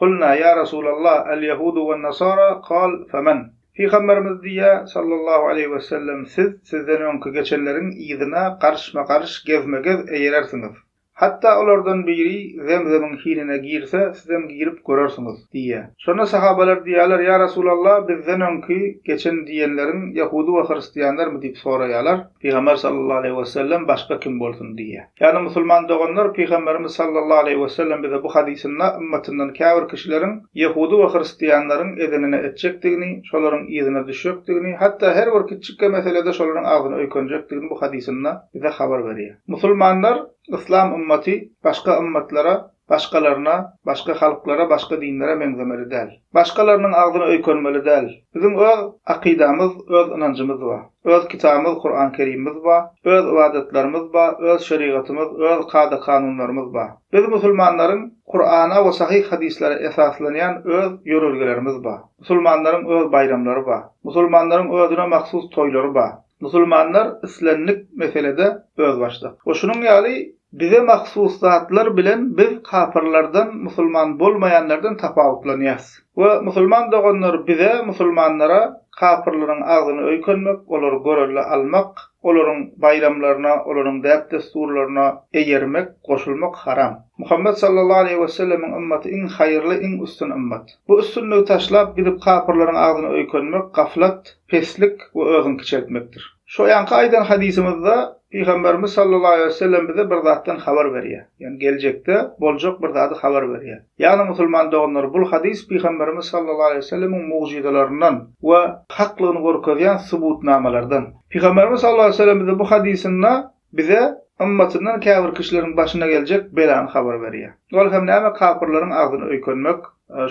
Kulna, ýa Resulallah, al-ýahudu wan-nasara, kal, faman? Pygamberimiz diýýär, sallallahu aleýhi wesellem, siz sizden öňki geçenleriň yzyna garyşma-garyş, gezme-gez eýerersiňiz. Hatda olardan biri Zemzemiň hinine girse, sizem girip görersiňiz, diýýär. Şonda sahabalar diýýärler, ýa Resulallah, bizden öňki geçen diýenleriň ýahudy we hristianlarmy? diýip soraýarlar. Pygamber sallallahu aleýhi we sellem başga kim bolsun diýýär. Ýagny musulman doganlar Pygamberimiz sallallahu aleýhi we sellem bize bu hadysynda ymmatyndan käbir kişileriň ýehudy we hristianlaryň edenini etjekdigini, şolaryň yzyna düşjekdigini, hatda her bir kiçjikkä meselede şolaryň agzyny öýkenjekdigini bu hadysynda bize habar berýär. Musulmanlar, yslam ymmaty başga ymmatlara Başgalaryna, başga halklara, başga dinlere meňzemeli däl. Başgalarynyň agzyna öýkenmeli däl. Biziň öz akydamyz, öz ynanjymyz bar. Öz kitabymyz Kuran Kerimimiz bar. Öz ybadatlarymyz bar, öz şerigatymyz, öz kada-kanunlarymyz bar. Biz musulmanlaryň Kurana we sahyh hadyslara esaslanýan öz ýörelgelerimiz bar. Musulmanlaryň öz baýramlary bar. Musulmanlaryň özüne mahsus toýlary bar. Musulmanlar islendik meselede özbaşdak. We şunuň ýaly bize mahsus zatlar bilen biz kapyrlardan, musulman bolmaýanlardan tapawutlanýarys. We musulman doganlar bize, musulmanlara, kapyrlaryň agzyny öýkenmek, olary görelde almak, olaryň baýramlaryna, olaryň däp-dessurlaryna eýermek, goşulmak haram. Muhammet sallallahu aleýhi we sellemiň ymmaty iň haýyrly, iň üstün ymmat. Bu üstünligi taşlap, gidip kapyrlaryň agzyny öýkenmek, gaflat, peslik we özüňi kiçeltmekdir. Şu ýanky aýdan hadysymyzda Pygamberimiz sallallahu aleýhi wesellem bize bir zatdan habar berýär. Ýagny geljekde boljak bir zady habar berýär. Ýagny musulman doganlar bul hadys Pygamberimiz sallallahu aleýhi wesellemiň mugjyzalaryndan we haklygyny görkezýän subutnamalardan. Pygamberimiz sallallahu aleýhi wesellem bize bu hadysynda Bize ymmatyndan käbir kişileriň başyna geljek belany habar berýär. Ol hem näme kapyrlaryň agzyny öýkenmek,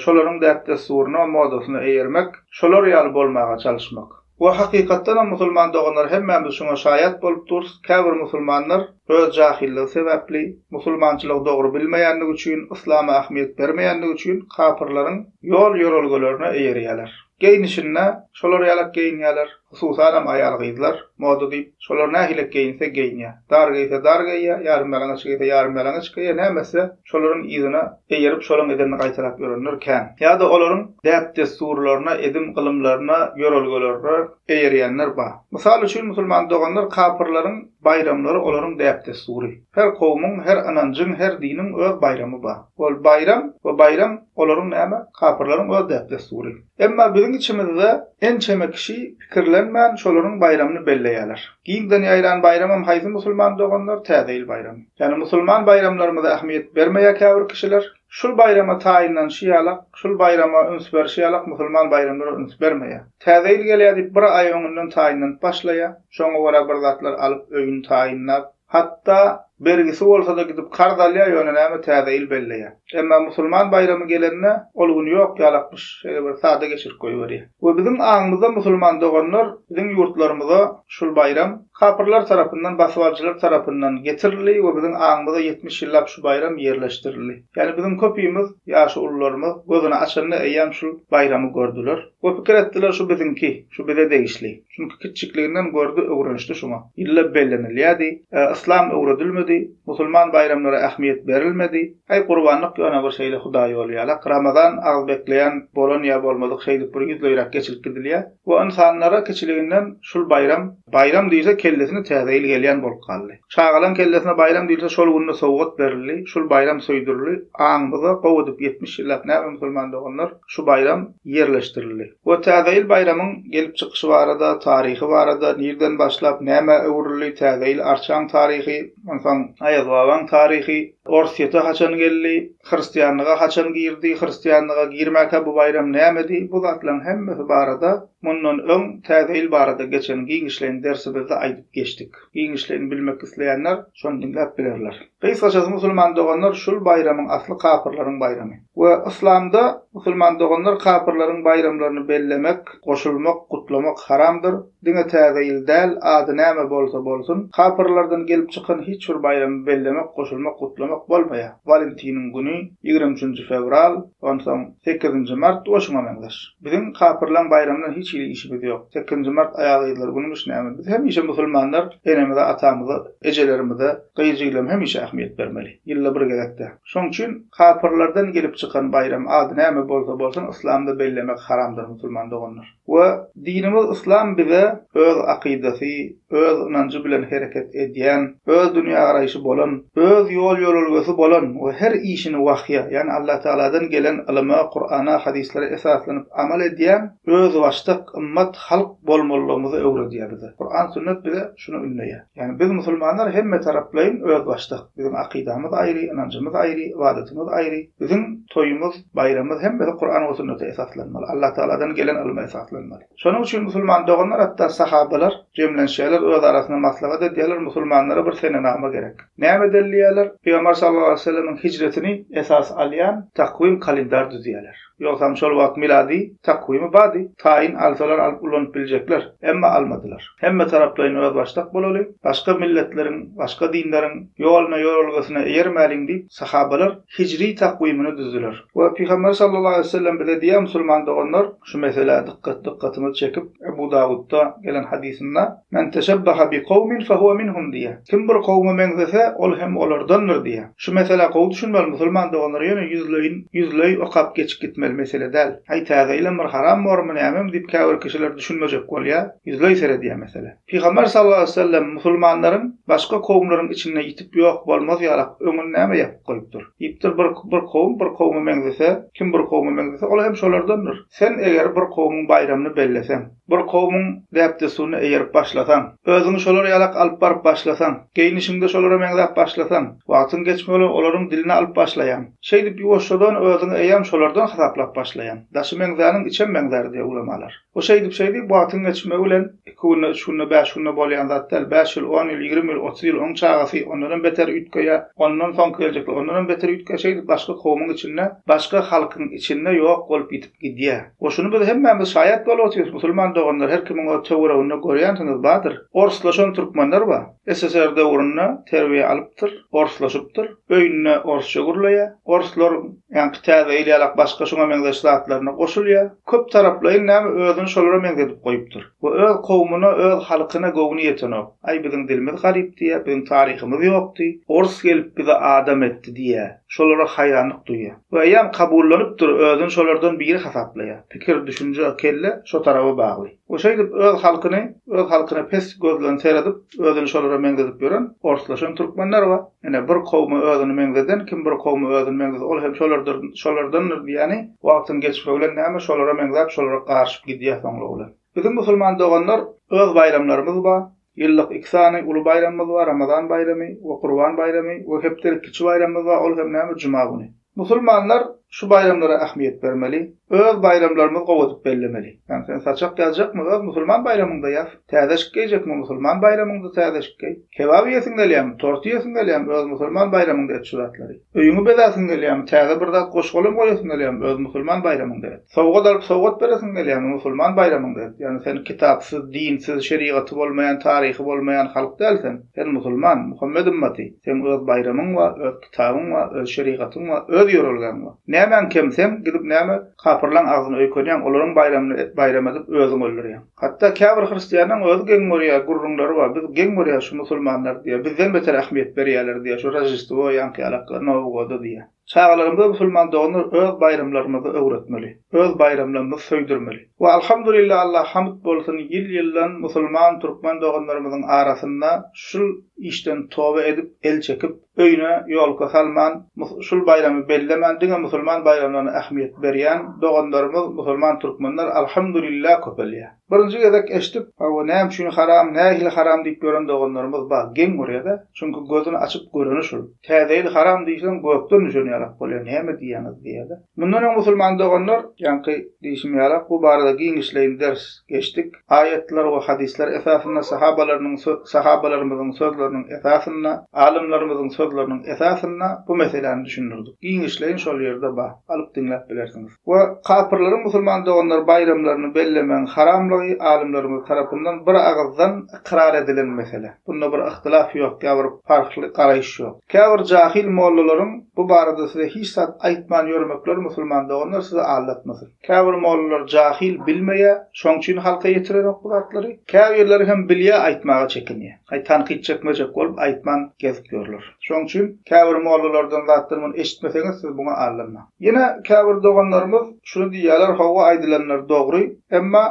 şolaryň däp-dessuryna, modasyna eýermek, şolar ýaly bolmaga çalyşmak. We hakykatdanam musulman doganlar hemmämiz şuňa şaýat bolup durus, käbir musulmanlar öz jahylligi sebäpli, musulmançylygy dogry bilmeýändigi üçin, yslama ähmiýet bermeýändigi üçin kapyrlaryň ýol-ýörelgelerine eýerýärler. Geýnişinde şolar ýalak geýinýäler, hususanam aýal-gyzlar, moda diýip, şolar nähilek geýinse geýinýä. Dar geýse dar geýýä, ýarymýalaňaç geýse ýarymýalaňaç geýýä, näme etse, şolaryň yzyna eýerip, şolaň edenini gaýtalap ýörenler kän. Ýa-da olaryň däp-dessurlaryna, edim-gylymlaryna, ýörelgelerine eýerýänler bar. Mysal üçin, musulman doganlar kapyrlaryň Baýramlary olaryň däp-dessury. Her kowumyň, her ynanjyň, her diniň öz baýramy bar. Ol baýram we baýram olaryň näme, kapyrlaryň öz däp-dessury. Emma biziň içimizde ençeme kişi pikirlenmän şolaryň baýramyny belleýärler. Giňden ýaýran baýramam haýsy musulman doganlar, Täze ýyl baýramy. Ýani musulman baýramlarymyza ähmiýet bermeýär käbir kişiler. Şul baýrama taýynlanyşy ýalak, şul baýrama üns berişi ýalak musulman baýramlara üns bermeýär. Täze ýyl gelýär diýip bir aý öňünden taýynlanyp başlaýar. Şoňa görä bir zatlar alyp öýüni taýynlap, hatda bergisi bolsada gidip karz alýar ýöne näme täze ýyl belleýär. Emma musulman baýramy gelende ol gün ýok ýalakmyş şeýle bir sada geçirip goýberýär. We biziň aňymyzda musulman doganlar biziň ýurtlarymyza şul baýram, Kapyrlar tarapyndan, basybalyjylar tarapyndan, getirildi we biziň aňymyza ýetmiş ýyllap şu baýram ýerleşdirildi. Ýagny biziň köpimiz, ýaşy ulularymyz, gözüni açanda eýýäm şul baýramy gördüler we pikir etdiler, şu biziňki, şu bize degişli. Çünki kiçjikliginden gördi, öwrenişdi şuňa. Ýyllap bellenilýärdi. Ä, yslam öwredilmedi, musulman baýramlara ähmiýet berilmedi. Äý, gurbanlyk ýöne bir şeýle hudaýýoly ýalak, ramazan agzybekleýän bolan ýa bolmadyk şeýdip bir ýüzleýräk geçilip gidilýär. Bu ynsanlara kiçiliginden şul baýram, baýram diýilse kellesine Täze ýyl gelýän bolup galdy. Çagalaň kellesine baýram diýilse şol günde sowgat berildi, şul baýram söýdürildi. Aňymyzda gowy edip ýetmiş ýyllap näme musulman doganlar şu baýram ýerleşdirildi. Bu Täze ýyl baýramyň gelip çykyşy barada, taryhy barada, nirden başlap nämä öwrüldi, Täze ýyl arçaň taryhy, onsoň Aýazbabaň taryhy, Orsýete haçan geldi, Hristianlyga haçan girdi, hristianlyga girmäkä bu baýram nämedi, bu zatlaryň hemmesi barada mundan öň Täze ýyl barada geçen giňişleýin dersimizde aýdyp geçdik. Giňişleýin bilmek isleýänler şony diňläp bilerler. Gysgaçasy musulman doganlar şul baýramyň asly kapyrlaryň baýramy. We yslamda musulman doganlar kapyrlaryň baýramlaryny bellemek, goşulmak, gutlamak haramdyr. Diňe Täze ýyl däl, ady näme bolsa bolsun, kapyrlardan gelip çykan hiç bir baýramy bellemek, goşulmak, gutlamak bolmaýar. Walentiniň güni, ýigrimi üçünji fewral, onsoň, sekizinji mart we şuňa meňzeş. Biziň kapyrlaň baýramyna hiç hili işimiz ýok. Sekizinji mart aýal-gyzlar günümiş näme? Biz hemişe musulmanlar enemize, atamyza, ejelerimize, gyz-jigilem hemişe ähmiýet bermeli. Ýylda bir gezek-de. Şoň üçin, kapyrlardan gelip çykan baýram, ady näme bolsa bolsun, yslamda bellemek haramdyr, musulman doganlar. We dinimiz Yslam bize öz akydasy, öz ynanjy bilen hereket edýän, öz dünýägaraýşy bolan, öz ýol-ýörelgesi bolan we her işini wahýa, ýagny Allatagaladan gelen ylyma, Kurana, hadyslara esaslanyp amal edýän özbaşdak ymmat, halk bolmalydygymyzy öwredýär bize. Kuran, sünnet bize şuny ündeýär. Ýagny biz musulmanlar hemmetaraplaýyn özbaşdak. Biziň akydamyz aýry, ynanjymyz aýry, ybadatymyz aýry. Biziň toýumyz, baýramymyz hemmesi Kuran we sünnete esaslanmaly. Allatagaladan gelen ylma esaslanmaly. Şonuň üçin musulman doganlar hatda sahabalar jemlenişýärler, öz arasynda maslahat edýärler, musulmanlara bir senenama gerek. Näme delilýärler? Pygamber sallallahu aleýhi we sellemiň hijretini esas alýan takwim kalendar düzýärler. Ýogsam şol wagt milady takwimi bardy, taýyn alsalar alyp ulanyp biljekler, emma almadylar. Hemme taraplaýyn özbaşdak bolaly, başga milletleriň, başga dinleriň ýoluna-ýorelgesine eýermäliň diýip, sahabalar hijri takwimini düzdüler. We Pygamber sallallahu aleýhi we sellem bize diýýär, Musulman doganlar, şu meselä dykgat, dykgatyňyzy çekip, Ebu Dawudda gelen hadysynda, Men teşebbaha bi kowmin fehuwe minhum diýýär. Kim bir kowma meňzese, ol hem olardandyr diýýär. Şu meselä gowy düşünmeli musulman doganlar ýöne ýüzleýin ýüzleý okap geçip gitmeli mesele däl. Aý täze ýylam bir haram bormy nämemi diýip käbir kişiler düşünmejek bolýar, ýüzleý seredýär mesele. Pygamber sallallahu aleýhi we sellem musulmanlaryň başga kowumlaryň içinde ýitip ýok bolmaz ýalak öňüni näme ýapyp goýupdyr? Diýipdir bir bir kowum bir kowma meňzese, kim bir kowma meňzese, ol hem şolardandyr. Sen eger bir kowumyň baýramyny belleseň. Bir kowumyň däp-dessuryna eýerip başlasaň, özüňi şolar ýalak alyp baryp başlasaň, geýnişiňde şolara meňzäp başlasaň, wagtyň geçmek bilen olaryň diline alyp başlaýaň. Şeýdip ýuwaşjadan özüňi eýýäm şolardan hasaplap başlaýaň. Daşy meňzäniň içem meňzär diýýär ulamalar. Bu şeýdip-şeýdip wagtyň geçmegi bilen iki günde, üç günde, bäş günde bolýan zat däl. Bäş ýyl, on ýyl, ýigrimi ýyl, otuz ýyl oň çagasy ondanam beter üýtgeýär. Ondan soňky geljekler ondanam beter üýtgeýär. Şeýdip başga kowumyň içinde, başga halkyň içinde ýok bolup ýitip Gidýär. We şuny biz hemmämiz şaýat bolup otyrys, musulman doganlar, her kimiň öz töwereginde görýänsiňiz bardyr. Orslaşan türkmenler bar. SSR döwründe terbiýe alypdyr, orslaşypdyr, öýünde orsça gürleýär. Orslaryň ýaňky täze ýyl ýalak başga şuňa meňzeş zatlaryna goşulýar. Köp taraplaýyn näme özüni şolara meňzedip goýupdyr. We öz kowmuna, öz halkyna göwni ýetenok. Aý biziň dilimiz garyp diýýär, biziň taryhymyz ýokdy, ors gelip bizi adam etdi diýýär. Şolara haýranlyk duýýar. Bu eýýäm kabullanypdyr, özüni şolardan biri hasaplaýar. Pikir, düşünje, kelle şo taraba bagly. We şeýdip öz halkyny, öz halkyna pes göz bilen seredip, özüni şolara meňzedip ýören, orslaşan türkmenler bar. Ine, bir kowuma özüni meňzeden, kim bir kowuma özüni meňzese, ol hem şolardyr, şolardandyr diýýäni, wagtyň geçmegi bilen näme, şolara meňzäp, şolara garyşyp gidýär soňlugy bilen. Biziň musulman doganlar, öz baýramlarymyz bar, Ýyllyk iki sany uly baýramymyz bar, Ramazan baýramy we Gurban baýramy we hepdelik kiçi baýramymyz bar, ol hem näme, juma güni. Musulmanlar şu baýramlara ähmiýet bermeli, öz baýramlarymyzy gowy edip bellemeli. Ýagny sen saçak ýazjakmy, öz musulman baýramyňda ýaz, täzeşik geýjekmi, musulman baýramyňda täzeşik geý, kebap iýesiň gelýärmi, tort iýesiň gelýärmi, öz musulman baýramyňda et şu zatlary. Öýüňi bezäsiň gelýärmi, täze bir zat goşgalam goýasyň gelýärmi, öz musulman baýramyňda et. Sowgat alyp sowgat beresiň gelýärmi musulman baýramyňda edip ýagny sen kitapsyz dinsiz şerigaty bolmaýan taryhy bolmaýan halk däl sen sen musulman Muhammet ymmaty seň öz baýramyň bar öz kitabyň bar öz şerigatyň bar öz ýörelgäň bar nämäň kem sen gidip näme kapyrlaň agzyny öýkenýäň olaryň baýramyny baýram edip özüň öldürýäň hatda käbir hristiýanaň özi geň görýär gürrüňleri bar biz geň görýäs şu musulmanlar diýýär bizden beter ähmiýet berýärler diýýär şu roždestwo ýaňky ýalak nowgoda diýýär. Çagalarymyza musulman doganlar öz baýramlarymyzy öwretmeli, öz baýramlarymyzy söýdürmeli. We alhamdulillah Allaha hamd bolsun ýyl-ýyldan musulman türkmen doganlarymyzyň arasynda şul işden toba edip el çekip öýüne ýolka salman şul baýramy bellemän diňe musulman baýramlaryna ähmiýet berýän doganlarymyz musulman türkmenler alhamdulillah köpelýär. Birinji gezek eşdip, hawa näme üçin haram, nähili haram diýip ýören doganlarymyz bar, geň görýädä, çünki gözüni açyp göreni şul. Täze ýyl haram diýseň gökden düşen ýalak bolýa, näme diýýäňiz diýýädä. Mundan öň musulman doganlar, ýaňky diýşim ýalak, bu barada giňişleýin ders geçdik. Aýatlar we hadyslar esasynda, sahabalarynyň, sahabalarymyzyň sözleriniň esasynda, alymlarymyzyň sözleriniň esasynda bu meseläni düşündirdik. Giňişleýin şol ýerde bar, alyp diňläp bilersiňiz. we kapyrlaryň musulman doganlary baýramlaryny bellemegiň haramlygy alymlarymyz tarapyndan bir agyzdan ykrar edilen mesele. Bunda bir yhtilaf ýok, ýa bir parhly garaýyş ýok. Käbir jahil mollalaryň bu barada size hiç zat aýtman ýörmekleri musulman doganlar sizi aldatmasyn. Käbir mollalar jahil bilmeýär, şoň üçin halka ýetirerok bu zatlary. Käbirleri hem bilýär aýtmaga çekinýär. Haý tankyt çekmejek bolup aýtman gezip ýörler. Şoň üçin käbir mollalardan zatlar muny eşitmeseňiz siz buňa aldanmaň. Ýene käbir doganlarymyz şuny diýýärler, Hawa, aýdylanlar dogry, emma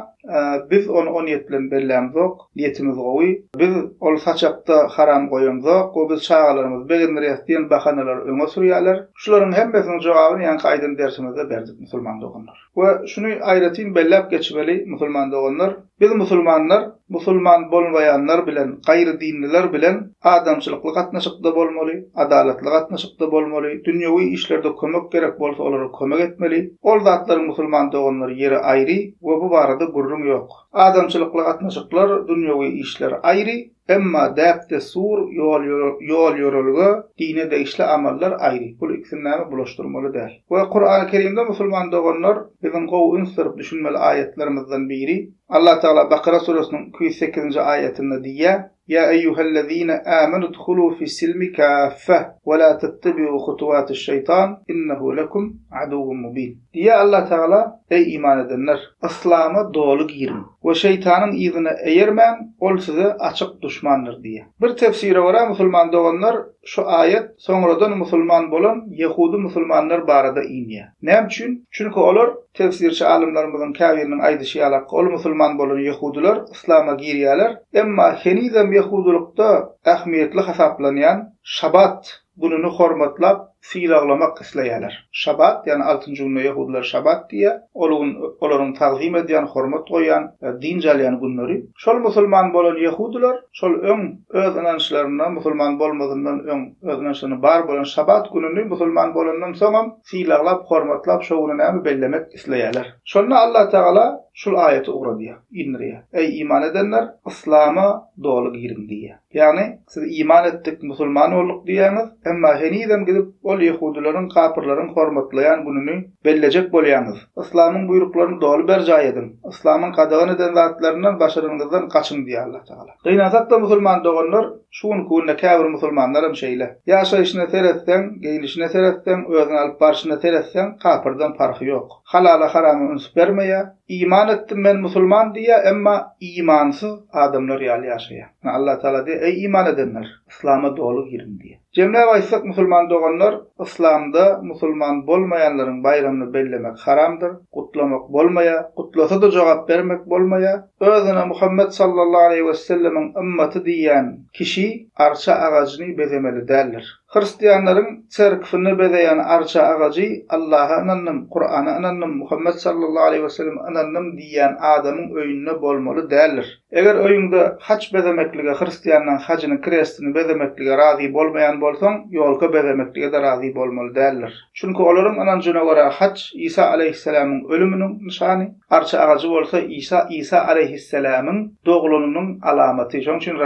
biz ony o niýet bilen bellämzok, niýetimiz gowy, biz ol saçakda haram goýamzok we biz çagalarymyzy begendirýäs diýen bahanalary öňe sürýärler. Şularyň hemmesiniň jogabyny ýaňky aýdan dersimizde berdik, musulman doganlar. We şuny aýratyn belläp geçmeli, musulman doganlar, Biz musulmanlar musulman bolmaýanlar bilen, gaýry dinliler bilen adamçylykly gatnaşykda bolmaly, adalatly gatnaşykda bolmaly, dünýewi işlerde kömek gerek bolsa olara kömek etmeli. Ol zatlar musulman doganlar ýeri aýry we bu barada gürrüň ýok. Adamçylykly gatnaşyklar, dünýewi işler aýry, Emma däp-dessur, ýol-ýörelge, dine degişli amallar aýry. Bul ikisini näme bulaşdyrmaly däl. We Kurany Kerimde musulman doganlar biziň gowy üns berip düşünmeli aýatlarymyzdan biri, Allah Tagala Bakyra suresiniň iki ýüz sekizinji aýatynda diýýär, Ýa eýýuhellezine amenu dkhulu fissilmi kaffe, wela tettebiu hutuwatiş şeýtan, innehu lekum aduwwun mubin. Diýýär Allah Tagala, Eý, iman edenler! Yslama doly giriň we şeýtanyň yzyna eýermäň, ol size açyk duşmandyr diýýär. Bir tefsire görä, musulman doganlar, şu aýat soňradan musulman bolan ýehudy musulmanlar barada inýär. Näme üçin? Çünki olar, tefsirçi alymlarymyzyň käbiriniň aýdyşy ýaly, ol musulman bolan ýehudylar yslama girýärler, emma henizem ýehudylykda ähmiýetli hasaplanýan Şabat Gününi hormatlap, sylaglamak isleýärler. Şabat, ýagny altynjy gününe ýehudylar şabat diýýär. Ol gün olaryň tagzym edýän, hormat goýýan, dynç alýan günleri. Şol musulman bolan ýehudylar, şol öň öz ynançlaryna, musulman bolmazyndan öň öz ynançlaryna bar bolan şabat gününi musulman bolandan soňam sylaglap, hormatlap, şo güni näme bellemek isleýärler. Şonda Allatagala şul aýaty ugradýar, indirýär, Eý, iman edenler, yslama doly giriň diýýär. Ýagny, siz iman etdik, musulman bolduk diýýäňiz, emma henizem gidip ol ýehudylaryň, kapyrlaryň hormatlaýan gününi bellejek bolýaňyz. Yslamyň buýruklaryny doly berjaý ediň. Yslamyň gadagan eden zatlaryndan başaranyňyzdan gaçyň diýýär Allah Tagala. Gynansak-da musulman doganlar, şu günki günde käbir musulmanlaram şeýle. Ýaşaýşyna seretseň, geýnişine seretseň, özüni alyp barşyna seretseň, kapyrdan parhy ýok. Halala-harama üns bermeýär, Iman etdim men musulman diýýär, emma imansyz adamlar ýaly ýaşaýar. Ine Allatagala diýýär, eý iman edenler, yslama doly giriň diýýär. Jemläp aýtsak musulman doganlar, yslamda musulman bolmaýanlaryň baýramyny bellemek haramdyr, gutlamak bolmaýar, gutlasa-da jogap bermek bolmaýar. Özüne Muhammet sallallahu aleýhi wessellemiň ymmaty diýýän kişi arça agajyny bezemeli däldir. Hristianlaryň çerkwini bezeýän arça agajy Allaha ynandym, Kurana ynandym, Muhammet sallallahu aleýhi we selleme ynandym diýýän adamyň öýünde bolmaly däldir. Eger öýüňde haç bezemeklige hristianlaň hajynyň krestini bezemeklige razy bolmaýan bolsaň ýolka bezemeklige-de razy bolmaly däldir. Çünki olaryň ynanjyna görä haç Isa aleýhisselämiň ölüminiň nyşany, arça agajy bolsa Isa Isa aleýhisselämiň doglanynyň alamaty. Şonuň üçin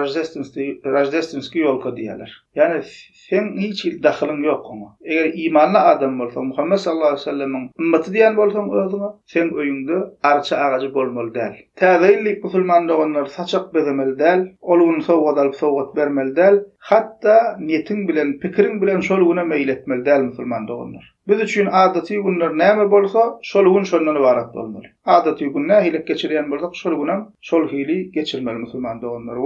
Roždestwski ýolka diýýärler. Ýagny, seň hiç hili dahylyň ýok oňa. Eger imanly adam bolsaň, Muhammet sallallahu aleýhi we sellemiň ymmaty diýen bolsaň özüňe, seň öýüňde arça agajy bolmaly däl. Täze ýyl diýip musulman doganlar saçak bezemeli däl, ol gün sowgat alyp sowgat bermeli däl, hatda niýetiň bilen, pikiriň bilen şol güne meýil etmeli däl musulman doganlar. Biz üçin adaty günler näme bolsa, şol gün şondan ybarat bolmaly. Adaty gün nähili geçirýän bolsak, şol günem şol hili geçirmeli musulman doganlar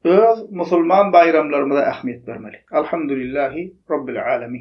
we öz musulman baýramlarymyza ähmiýet bermeli. Alhamdulillahi Robbil Alamin.